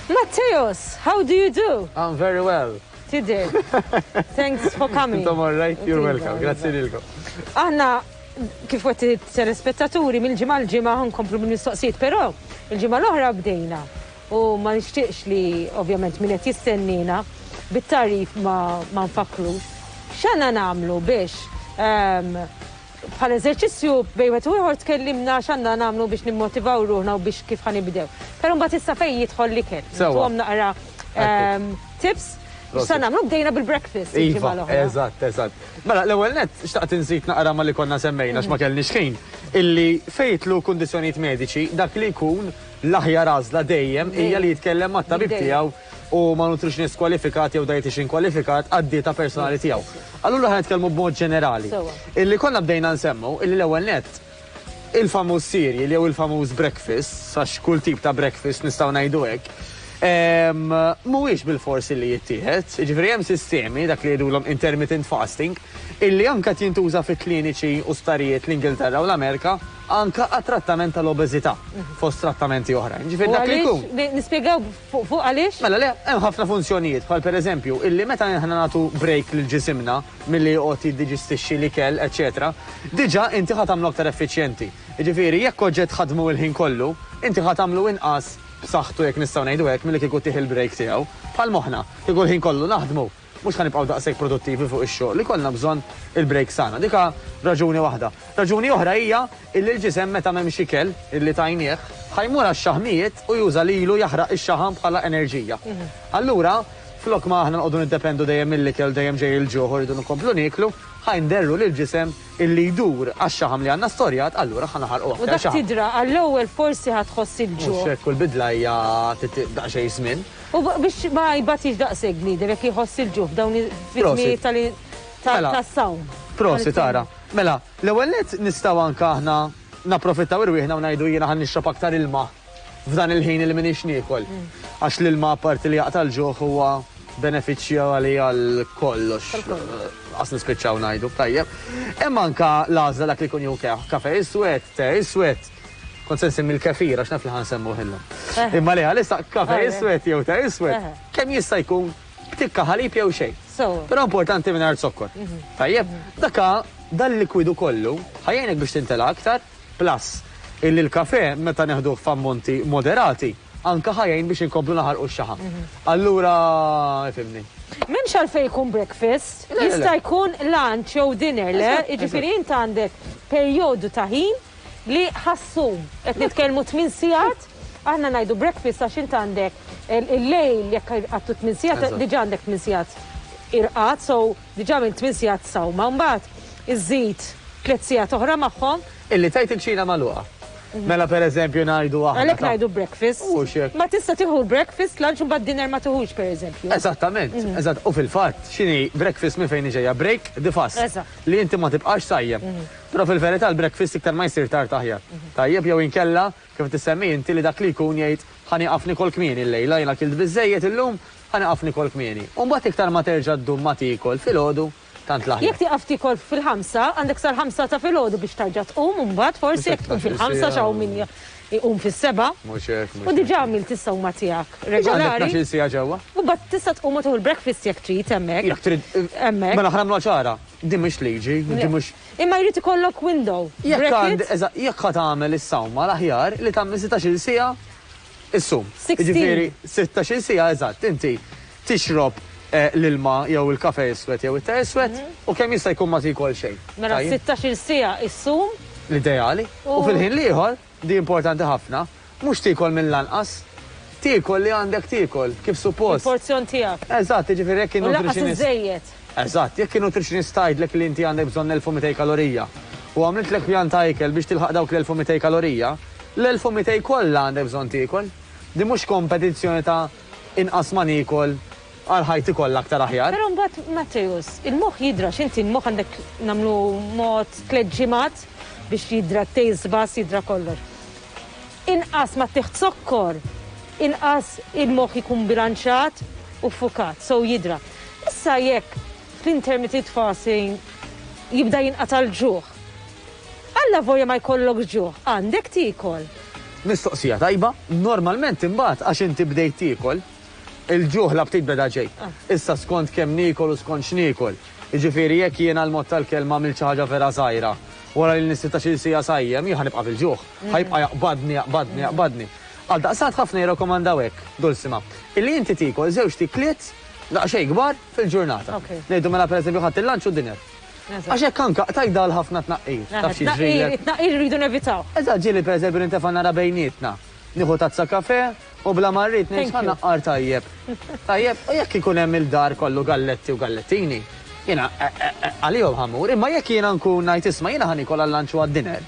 Matteos, how do you do? I'm very well. Today. Thanks for coming. Intom all right, you're welcome. Grazie lilkom. Aħna kif għet telespettaturi mill-ġimgħa l-ġimgħa nkomplu mill-mistoqsijiet, però il-ġimgħa l-oħra bdejna U ma nixtieqx li ovvjament min qed jistenniena bit-tagħrif ma ma nfakkrux. X'għandna nagħmlu biex bħala eżerċizzju bejn wieħed u ieħor tkellimna x'għandna nagħmlu biex nimmotivaw ruħna u biex kif ħa nibdew. Però mbagħad issa fejn jidħol l-ikel. Sewwa. Intuhom naqra tips x'sa nagħmlu. Bdejna bil-breakfast il-ġimgħa l-oħra. Iva, eżatt, eżatt. Mela, l-ewwel nett xtaqt inżid naqra ma' li konna semmejna għax ma kellniex ħin, illi fejn jidħlu kundizzjonijiet mediċi dak li jkun L-aħjar għażla dejjem hija li jitkellem mat-tabib tiegħu u ma' nutritionist kwalifikat jew dietician kwalifikat għad-dieta personali tiegħu. Allura ħa nitkellmu b'mod ġenerali. Illi konna bdejna nsemmu illi l-ewwel nett il-famuż cereal jew il-famuż breakfast, għax kull tip ta' breakfast nistgħu ngħidu hekk, mhuwiex bilfors illi jittieħed. Jiġifieri hemm sistemi, dak li jgħidulhom intermittent fasting, illi anke qed jintuża fi kliniċi u sptarijiet l-Ingilterra u l-Amerika, anke għat-trattament tal-obeżità, fost trattamenti oħrajn. Ġifieri dak li jkun. Nispjegaw fuq għaliex? Mela le, hemm ħafna funzjonijiet, bħal pereżempju, illi meta aħna nagħtu break lil ġisimna milli joqgħod jiddiġistixxi l-ikel, eċċetera, diġà inti ħa tagħmlu aktar effiċjenti. Jiġifieri jekk kont ġejt tħaddmu l-ħin kollu, inti ħa tagħmlu inqas b'saħħtu jekk nistgħu ngħidu hekk milli kieku tih il-break tiegħu. Bħal moħħna, kieku l-ħin kollu naħdmu, Mhux ħa nibqgħu daqshekk produttivi fuq ix-xogħol, ikollna bżonn il-breaks tagħna. Dik ha raġuni waħda. Raġuni oħra hija illi l-ġisem meta m'hemmx ikel illi tajnieh, ħa jmur għax-xaħmijiet u juża lilu jaħraq ix-xaħam bħala enerġija. Allura, flok ma aħna noqogħdu niddependu dejjem mill-ikel u dejjem ġej il-ġuħ u rridu nkomplu nieklu, ħa nderru lill-ġisem Illi jdur għax-xaħam li għandna storjat, allura ħa naħarqu aktar xaħam. U dak tidra, għall-ewwel forsi ħa tħoss il-ġuħ. Mhux hekk, kull bidla hija tittiq daqsxejn żmien. U biex ma jbatix daqshekk bniedem jekk jħoss il-ġuħ f'dawn fiż-żminijiet tal tas-sawm. Prosit ara. Mela, l-ewwel nett nistgħu anke aħna napprofittaw irwieħna u ngħidu jiena ħa nixrob aktar ilma. F'dan il-ħin li m'iniex niekol. Għax l-ilma apparti li jaqta' l-ġuħ huwa benefiċċju għali għal kollox. Għas nispiċċaw ngħidu f'tajjeb. Imma anka l-għażla dak li jkun jew kafe iswed, te iswed. Kont se nsemmi l-kefir għax naf li ħan semmu ħillu. Eh. Imma li għalissa kafe eh. iswed jew te iswed. Eh. Kemm jista' jkun tikka ħalib jew xejn. Però importanti minn zokkor. Mhm. Tajjeb, daka dal-likwidu kollu ħajjenek biex tintela aktar Plus, illi l-kafè, meta neħduh f'ammonti moderati, anke ħa jgħin biex inkomplu naħarqu x-xaħam. Allura, ifhimni. M'hemmx għalfejn ikun breakfast, jista' jkun lunch jew dinner, le? Jiġifieri int għandek perjodu ta' ħin li ħa ssum. Qed nitkellmu tmien sigħat, aħna ngħidu breakfast għax int għandek il-lejl, jekk għattu tmien sigħat, diġà għandek tmien sigħat irqad, so. Diġà minn tmien sigħat sawma u mbagħad iżżid tliet sigħat oħra magħhom. Illi tgħid il-kċina magħluqa. Mela per eżempju ngħidu aħna. Għalhekk ngħidu breakfast. Mhux hekk. Ma tista' tieħu l-breakfast, lunch u mbagħad dinner ma tiħux per eżempju. Eżattament, eżatt. U fil-fatt x'inhi breakfast minn fejn hi ġejja? Break the fast. Eżatt. Li inti ma tibqax sajjem. Però fil-verità l-breakfast iktar ma jsir tard aħjar. Tajjeb jew inkella kif tissemmi inti li dak li jkun jgħid ħa nieqaf nikol kmieni llejla, jien akilt biżżejjed illum, Ħa nieqaf nikol kmieni. U mbagħad iktar ma terġa' ddum ma tiekol filgħodu, tant l-aħjar. Jekk tieqaf tiekol fil-ħamsa, għandek sal-ħamsa ta' filgħodu biex tarġa' tqum, u mbagħad forsi jekk tqum fil-ħamsa għax hawn min iqum fis-sebgħa. Mhux hekk, mhux hekk. U diġà għamilt is-sewma tiegħek regolari. Diġà għandek tnax-il siegħa ġewwa. U mbagħad tista' tqum u tieħu l-breakfast jekk trid hemmhekk. Jekk trid. Hemmhekk. Mela ħa nagħmluha ċara, din mhix liġi, din mhux. Imma jrid ikollok window. Jekk għand, eżatt, jekk ħa tagħmel is-sewma l-aħjar li tagħmel setax-il siegħa. Is-sum. Jiġifieri sittax-il siegħa eżatt inti tixrob l-ilma jew il-kafè iswed jew it-te iswed u kemm jista' jkun ma tiekol xejn. Mela sittax-il siegħa issum. L-ideali. U fil-ħin l-ieħor, di importanti ħafna, mhux tiekol mill-anqas, tiekol li għandek tiekol kif suppost. Il-porzjon tiegħek. Eżatt, jiġifieri jekk in-nutritionist. U lanqas iżżejjed. Eżatt, jekk in-nutritionist tgħidlek li inti għandek bżonn 1,200 kalorija u għamlitlek pjan ta' ikel biex tilħaq dawk l-1,200 kalorija, l-1,200 kollha għandek bżonn tiekol. Din mhux kompetizzjoni ta' inqas ma niekol għal ħajti kollha aktar aħjar. Però mbagħad, Matteus, il-moħħ jidra, x'inti l-moħħ għandek nagħmlu mod tliet ġimgħat biex jidra t-taste buds, jidra kollox. Inqas ma ttieħd zokkor, inqas il-moħħ ikun bbilanċjat u ffukat, sew jidra. Issa jekk fl-intermitted fasting jibda jinqata' l-ġuħ, allavolja ma jkollokx ġuħ, għandek tiekol. Mistoqsija tajba, normalment imbagħad għax inti bdejt tiekol, il-ġuħ l-aptit beda ġej. Issa skont kemm niekol u skont x'niekol. Jiġifieri jekk jiena l-mod tal-kelma għamilt xi ħaġa vera żgħira, wara li nistħi ta' xi siegħa sajjem, jien ħa nibqa' bil-ġuħ. Ħa jibqa' jaqbadni, jaqbadni, jaqbadni. Għaldaqstant ħafna jirrakkomandaw hekk, Dulsima, illi inti tiekol żewġt ikliet daqsxejn kbar fil-ġurnata. Ngħidu mela pereżempju ħadt il-lunch u d-dinner. Għax hekk anke qtajt dawl ħafna tnaqqir. Taf xi jiġrilek? It-tnaqqir irridu nevitaw. Eżatt, ġieli pereżempju nintefa' nara bejnietna. Nieħu tazza kafè u bla ma rrid ngħid ħa naqqar tajjeb. Tajjeb? U jekk ikun hemm il-dar kollu galletti u gallettini, jiena għalihom ħa mmur. Imma jekk jiena nkun ngħid isma' jiena ħa niekol għal-lunch u għad-dinner,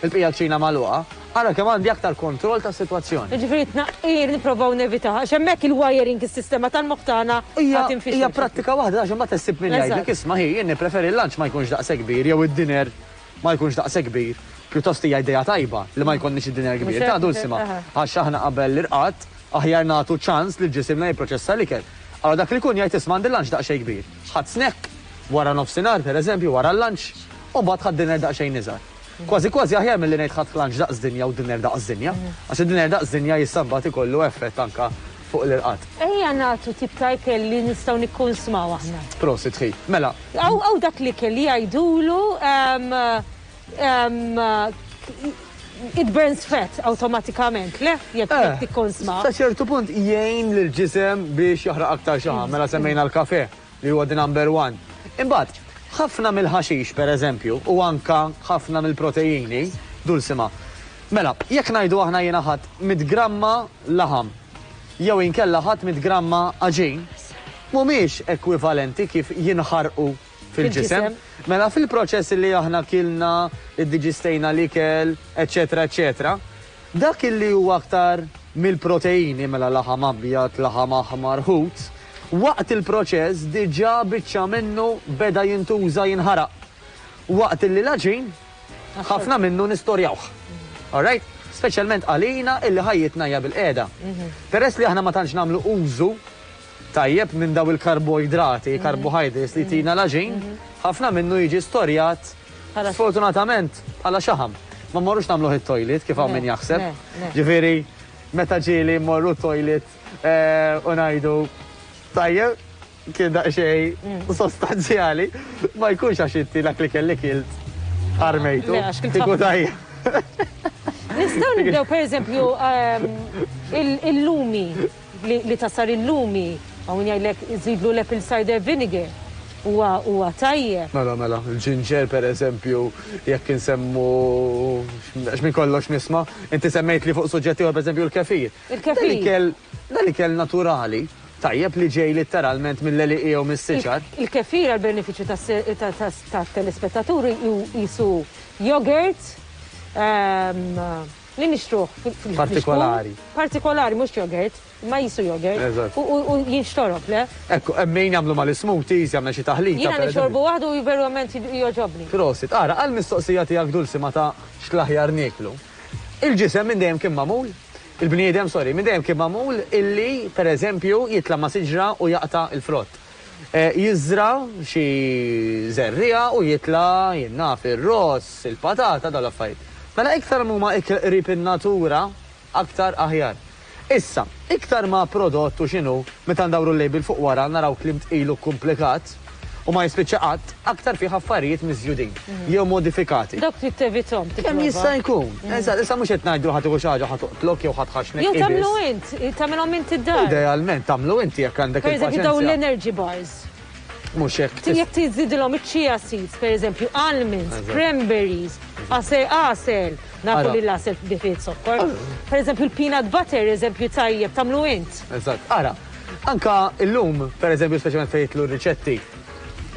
Il-bqija kċina magħluqa, ara kemm għandi aktar kontroll tas-sitwazzjoni. Jiġifieri t-tnaqqir nipprovaw nevitah għax hemmhekk il-wiring, is-sistema tal-moħħ tagħna għad tinfixel. Hija prattika waħda għax imbagħad issib min jgħidlek isma' hi jien nippreferi l-lunch ma jkunx daqshekk kbir jew id-dinner ma jkunx daqshekk kbir. Pjuttost hija idea tajba li ma jkollniex id-dinner kbir. Tgħid hu simha, għax aħna qabel l-irqad aħjar nagħtu ċans lil ġisimna jipproċessa l-ikel. Allura dak li jkun jgħid isma' għandi l-lunch daqsxejn kbir. Ħadt snack wara nofsinhar, pereżempju, wara l-lunch, u mbagħad ħadt dinner daqsxejn iżgħar. Kważi kważi aħjar milli ngħid ħadt lunch daqs dinja u dinner daqs dinja, għax id-dinner daqs dinja jista' mbagħad ikollu effett anke fuq l-irqad. Ejja nagħtu tip ta' ikel li nistgħu nikkunsmaw aħna. Prosit ħi. Mela. Hawn dak l-ikel li jgħidulu, ehm. It burns fat awtomatikament, le? Jekk eh, tikkonsma. Ta' ċertu punt jgħin l ġisem biex jaħraq aktar xaħam, mm. mela semmejna l-kafe li huwa the number one. Imbagħad, ħafna mill-ħaxix per eżempju, u anka ħafna mill-proteini, dulsima. Mela, jekk ngħidu aħna jiena ħadd mit gramma laħam, jew inkella ħadd mit gramma aġin, mhumiex ekwivalenti kif jinħarqu fil-ġisem. Mela fil-proċess illi aħna kilna, iddiġistejna l-ikel, eċċetera eċċetera, dak illi hu aktar mill-proteini, mela laħam abjad, laħam aħmar, ħut, waqt il-proċess diġà biċċa minnu beda jintuża jinħaraq. Waqt illi l-għaġin ħafna minnu nistorjawh. All right? Speċjalment għalina illi ħajjitna hija bil-qiegħda. Peress li aħna ma tantx nagħmlu użu tajjeb minn dawn il-karboidrati, carbohydrates, li jtina l-għaġin, ħafna minnu jiġi storjat sfortunatament bħala xaħam. Ma mmorrux nagħmluh it-toilet kif hawn min jaħseb. Ġifieri meta ġieli mmorru t-toilet eh, u ngħidu tajjeb kien daqsxejn sostanzjali ma jkunx għax inti dak li kelli kilt armejtu. Kiku tajjeb. Nistaw nibdew per eżempju ehm, il-lumi. li ta' sar illum hi hawn jgħidlek żidlu l-apple cider vinegar huwa huwa tajjeb. Mela mela, il-ġinġer pereżempju jekk insemmu għax minn kollox nisma', inti semmejtli fuq suġġett ieħor pereżempju l-kefir. Il-kefir. Dan ikel dan ikel naturali tajjeb li ġej litteralment mill-għelieqi jew mis-siċar. Il-kefir għall-benefiċċju tas-telespettaturi qisu yogurt, Li nixtruh fil-ġbun. Partikolari. Partikolari, mhux jogurt, imma qisu jogurt. Eżatt. U jinxtorob, le? Hekk, hemm min jagħmlu mal-ismoothies, jagħmel xi taħlita. Jiena nixorbu waħdu u verament jogħġobni. Prosit. Ara, għall-mistoqsija tiegħek Dulsima ta' x'l-aħjar nieklu. Il-ġisem minn dejjem kien magħmul, il-bniedem, sorry, minn dejjem kien magħmul illi, pereżempju, jitla' ma' siġra u jaqta' l-frott. Jiżra' xi żerriegħa u jitla', jien naf, ir-ross, il-patata, dawn l-affarijiet. Mela iktar m'huma ikl qrib in-natura, aktar aħjar. Issa, iktar ma prodott u x'inhu, meta ndawru l-label fuq wara naraw kliem tqil u kkumplikat, u ma jispiċċa qatt, aktar fih affarijiet miżjudin jew modifikati. Dawk trid tevithom, tipprova. Kemm jista' jkun. Eżatt, issa mhux qed ngħidlu ħa tieħu xi ħaġa ħa toqtlok jew ħa tħaxxnek. Jew tagħmlu int, tagħmilhom int id-dar. Idealment tagħmlu inti jekk għandek il-paċenzja. Pereżempju dawn l-energy bars. Mhux hekk. Jekk tiżidilhom iċ-chia seeds, pereżempju almonds, cranberries, għasel, nafu li l-għasel bi fih zokkor. Pereżempju l-peanut butter, eżempju tajjeb, tagħmlu int. Eżatt. Ara, anke llum, pereżempju speċjalment fejn jitlu r-riċetti,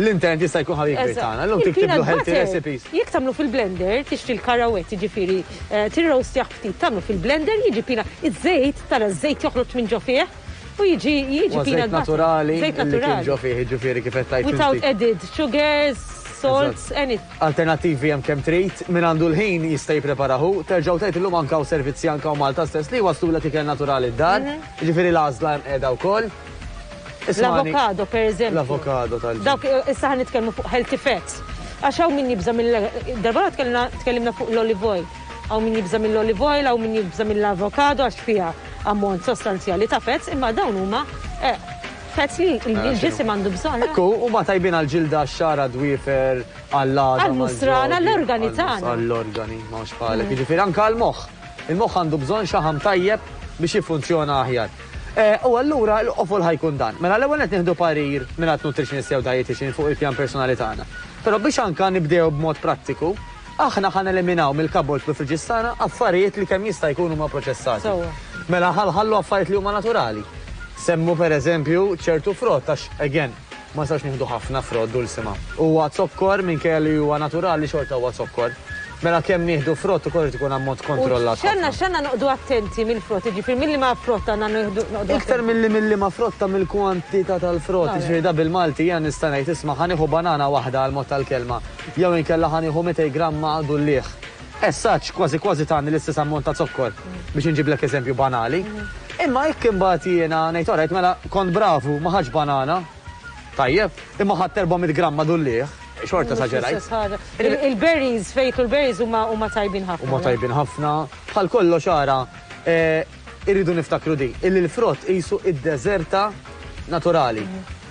L-intent jista' jkun ħabib kbir tagħna. Llum tiktiblu healthy recipes. Jekk tagħmlu fil-blender, tixtri l-karawett, jiġifieri eh, tirrowstjah ftit, tagħmlu fil-blender, jiġi pina iż-żejt, tara ż-żejt joħroġ minn ġo fih. U jiġi jiġi pina naturali. Żejt naturali. Ġo fih, jiġifieri kif qed tajt. Without added sugars, salts, any. Alternattivi hemm kemm trid, min għandu l-ħin jista' jippreparahu, terġgħu tgħid illum anka u servizzi anka u Malta stess li waslu l ikel naturali d-dar, mhm. jiġifieri l-għażla hemm qiegħda wkoll. L-avokado, per eżempju. L-avokado tal-ġid. Dawk issa ħan nitkellmu fuq healthy fats. Għax hawn min jibża' mill darba tkellimna fuq l-olive oil. Hawn min jibża' mill-olive oil, hawn min jibża' mill-avokado għax fiha ammont sostanzjali ta' fats, imma dawn huma eh, fats li l-ġisim għandu bżonn. Ekku, huma tajbin għall-ġilda, xara, dwifer, għall-għadam. Għall-musran, għall-organi tagħna. Għall-organi, ma' xbħalek. Jiġifieri anke għall-moħħ. Il-moħħ għandu bżonn xaħam tajjeb biex jiffunzjona aħjar. U allura l-qofol ħa jkun dan. Mela l-ewwel nett nieħdu parir mingħand nutritionist jew dietician fuq il-pjan personali tagħna. Però biex anka nibdew b'mod prattiku, aħna ħa neliminaw mill-cupboards u l-fridges tagħna affarijiet li kemm jista' jkun huma proċessati. Mela ħa nħallu affarijiet li huma naturali. Semmu pereżempju ċertu frott għax, again, Ma nistgħux nieħdu ħafna frott dulsima. Huwa zokkor minkejja li huwa naturali xorta huwa zokkor. Mela kemm nieħdu frott ukoll irid ikun ammont kontrollat. U x'għandna x'għandna noqogħdu attenti mill-frott, jiġifieri mill-liema frott għandna nieħdu noqogħdu. Iktar milli mill-liema frott ta' mill-kwantità tal-frott, jiġifieri da bil-Malti jiena nista' ngħid isma' ħa nieħu banana waħda għall-mod tal-kelma jew inkella ħa nieħu 200 gramm maqgħdu l-liħ. As such, kważi kważi tani l-istess ammont ta' zokkor, biex inġiblek eżempju banali. Imma jekk imbagħad jiena ngħid orajt mela kont bravu ma ħadtx banana, tajjeb, imma ħadt 400 gramm ma' dulliegħ, xorta esaġerajt. Il-berries, fejn jidħlu l-berries huma tajbin ħafna. Huma tajbin ħafna. Bħal kollox ara, Irridu niftakru din, illi l-frott qisu id-deżerta naturali.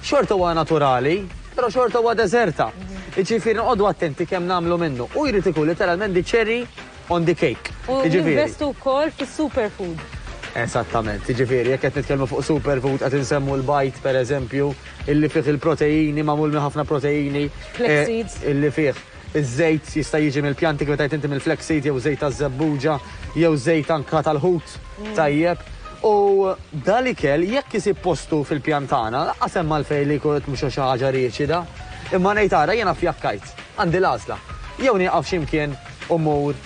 Xorta huwa naturali, però xorta huwa deżerta. Jiġifieri noqogħdu attenti kemm nagħmlu minnu. Hu jrid ikun literalment the cherry on the cake. U jinvestu wkoll fis-superfood. Esattament, jiġifieri jekk qed nitkellmu fuq superfood qed insemmu l-bajd pereżempju, illi fih il-proteini magħmul minn ħafna proteini. Flax seeds. Illi fih. Iż-żejt jista' jiġi mill-pjanti kif qed tgħid inti mill-flaxseed jew żejt taż-żebbuġa jew żejt anka tal-ħut tajjeb. U da l-ikel jekk isib postu fil-pjan tagħna laqqas hemm għalfejn li jkun qed mhux xi ħaġa riċida. Imma ngħid ara jiena fjakkajt. Għandi l-għażla. Jew nieqaf xi mkien u mmur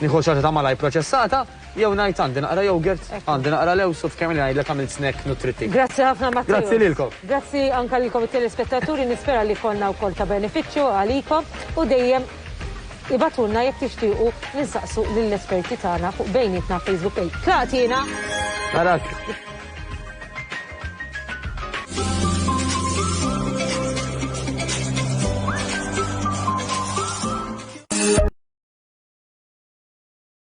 nieħu xi ħaġa ta' malajr proċessata, Jew ngħid għandi naqra yogurt, għandi naqra lewż u f'kemm li ngħidlek għamilt snack nutrittiv. Grazzi ħafna Matthew. Grazzi lilkom. Grazzi anke lilkom it-telespettaturi, nispera li konna wkoll ta' benefiċċju għalikom u dejjem ibgħatulna jekk tixtiequ li nsaqsu lill-esperti tagħna fuq bejnietna Facebook page. Tlaqt jiena! Narak.